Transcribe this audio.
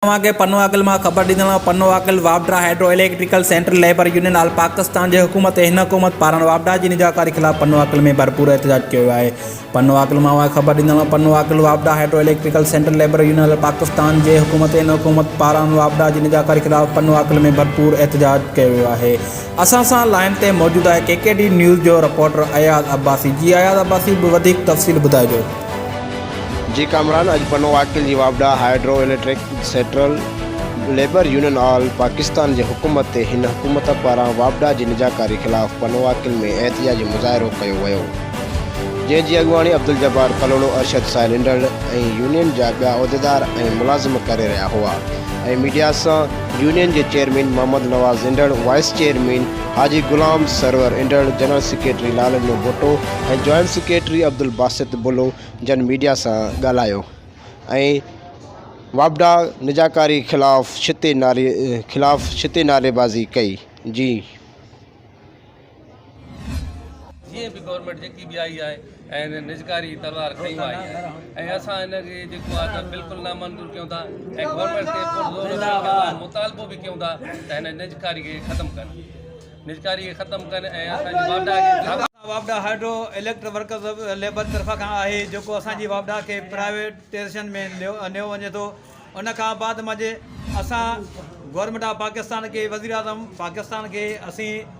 اوهان کي پنو عقل مان خبر ڏيندڙ آهيان، پنو عقل واپڊا hydro electrical central labour union all Pakistan جي حڪومت ۽ هن حڪومت پاران واپڊا جي نجڪاري خلاف پنو عقل ۾ ڀرپور احتجاج ڪيو ويو آهي، پنو عقل مان اوهان کي خبر ڏيندڙ آهيان، پنو عقل واپڊا hydro electrical central labour union all Pakistan جي حڪومت ۽ هن حڪومت پاران واپڊا جي نجڪاري خلاف پنو عقل ۾ ڀرپور احتجاج ڪيو ويو آهي. اسان سان لائين تي موجود آهي ڪي ڪي ڊي نيوز جو رپورٽر اياز عباسي، جي اياز عباسي وڌيڪ تفصيل ٻڌائجو. جي ڪامران اڄ پنو عاقل جي واپڊا hydro electric central labour union all Pakistan جي حڪومت تي هن حڪومت پاران واپڊا جي نجاڪاري خلاف پنو عاقل ۾ احتجاجي مظاهرو ڪيو ويو جنهن جي اڳواڻي عبدالجبار ڪلهوڙو ارشد سائل انڊڙ ۽ يونين جا ٻيا عهديدار ۽ ملازم ڪري رهيا هئا ۽ ميڊيا سان يونين جي chairman Muhammad Nawaz Indhar vice chairman Haji Ghulam Sarwar Indhar, general secretary Lalno Bhutto ۽ joint secretary Abdul Basit Bullo جن ميڊيا سان ڳالهايو ۽ واپڊا نجاڪاري خلاف ڇتي نعري خلاف ڇتي نعريبازي ڪئي جي جيئن به گورنمينٽ جيڪي به آئي آهي ۽ هن نجڪاري تلوار کڻي وائي آهي ۽ اسان هن کي جيڪو آهي ته بلڪل نامنظور ڪيون ٿا ۽ گورنمينٽ کي پرزور اچڻ ڪري مطالبو به ڪيون ٿا ته هن نجڪاري کي ختم ڪن نجڪاري کي ختم ڪن ۽ اسان جي واپڊا کي واپڊا هائيڊرو اليڪٽرڪ ورڪرز ليبر طرفان کان آهي جيڪو اسان جي واپڊا کي پرائيويٽائيزيشن ۾ نيو وڃي ٿو ان کان بعد مجي اسان گورنمينٽ آف پاڪستان کي وزيراعظم پاڪستان کي اسين